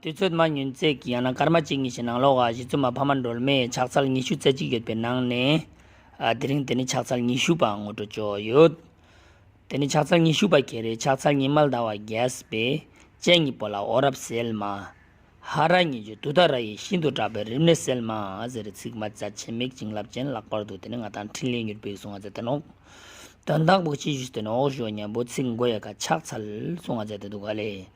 དུས་ཚོད་མ་ཉུལ་རྩལ་གྱིས་ཡང་ན་སྐར་མ་གཅིག་གཉིས་ཀྱི་ནང་ལོགས་ཀྱི་གཞི་རྩོམ་པ་ཕ་མ་སྒྲོལ་མས་ཕྱག་ཚལ་ཉི་ཤུ་རྩེ་གཅིག་ཡོད་པའི་ནང་ནས། དེ་རིང་དེ་ནི་ཕྱག་ཚལ་ཉི་ཤུ་པའང་ངོ་སྤྲོད་བཅུག་ཡོད། དེ་ནི་ཕྱག་ཚལ་ཉི་ཤུ་པ་གལ་རེད་ཕྱག་ཚལ་ཉི་མ་ཟླ་བ་རྒྱས་པས་སྤྱན་གཉིས་པོ་ལ་འོ་རབ་གསལ་མ། ཧ་ར་ཉི་ཇོ་དུ་ད་ར་ཡིས་ཤིན་ཏུ་དྲག་པའི་རིམས་ནད་སེལ་མ་ཟེར་རེ་ཚིག་མ་བྱ་ཆེ་མིག་བྱིངས་རླབས་ཅན་ལག་པར་དུ་དེ་ནི་ང་དང་འཕྲིན་ལས་མྱུར་བོས་གསུང་ང་ཚ་དེ་ནོག། དོན་དག་པོ་གཅིག་ཞུས་དེ་ནི་ཨོག་ཞོ་གཉན་པོ་ཚིག་མགོ་ཡལ་ག་ཆགས་ཚལ་གསུང་ང་ཚ་དེ་དུག་ག་ལས་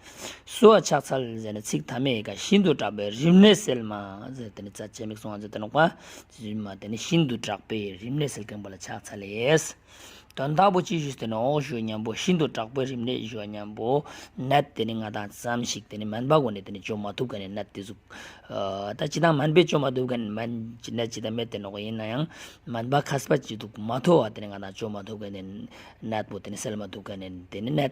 སུ་བ་ཆགས་ཚལ་ཟེར་ནི་ཚིག་ཐ་མའི་ཡལ་ག་ཤིན་ཏུ་དྲག་པའི་རིམས་ནད་སེལ་མ་ཟེར་དེ་ནི་བྱ་ཆེ་མིག་གསུང་ང་ཚ་དེ་ནོག་པ། དེ་ནི་ཤིན་ཏུ་དྲག་པའི་རིམས་ནད་སེལ་མཁན་པོ་ལ་ཆགས་ཚལ་ལས། དོན་དག་པོ་ཅི་ཞིག་དེ་ནི་འོག་ཞུ་སྙམ་པོ་ཤིན་ཏུ་དྲག་པོའི་རིམས་ནད་ཞུ་བ་སྙམ་པོ་ནད་དེ་ནི་ང་དང་ཙམ་ཞིག་དེ་ནི་མན་པ་གོ་ནས་དེ་ནི་བཅོས་མ་ཐུབ་ག་ནས་ནད་དེ་གཟུག། ད་ཅི་དང་མན་པས་བཅོས་མ་ཐུབ་ག་ནས་མན་གྱི་ནད་ཇི་ལྟ་མེད་དེ་ནོག་ཡིན་ན་ཡང་མན་པ་ཁ་སྤ་ཅི་འདུག་མ་ཐོ་བ་དེ་ནི་ང་དང་བཅོས་མ་ཐུབ་ག་ནས་ནད་པོ་དེ་ནི་སེལ་མ་ཐུབ་ག་ནས་དེ་ནི་ནད།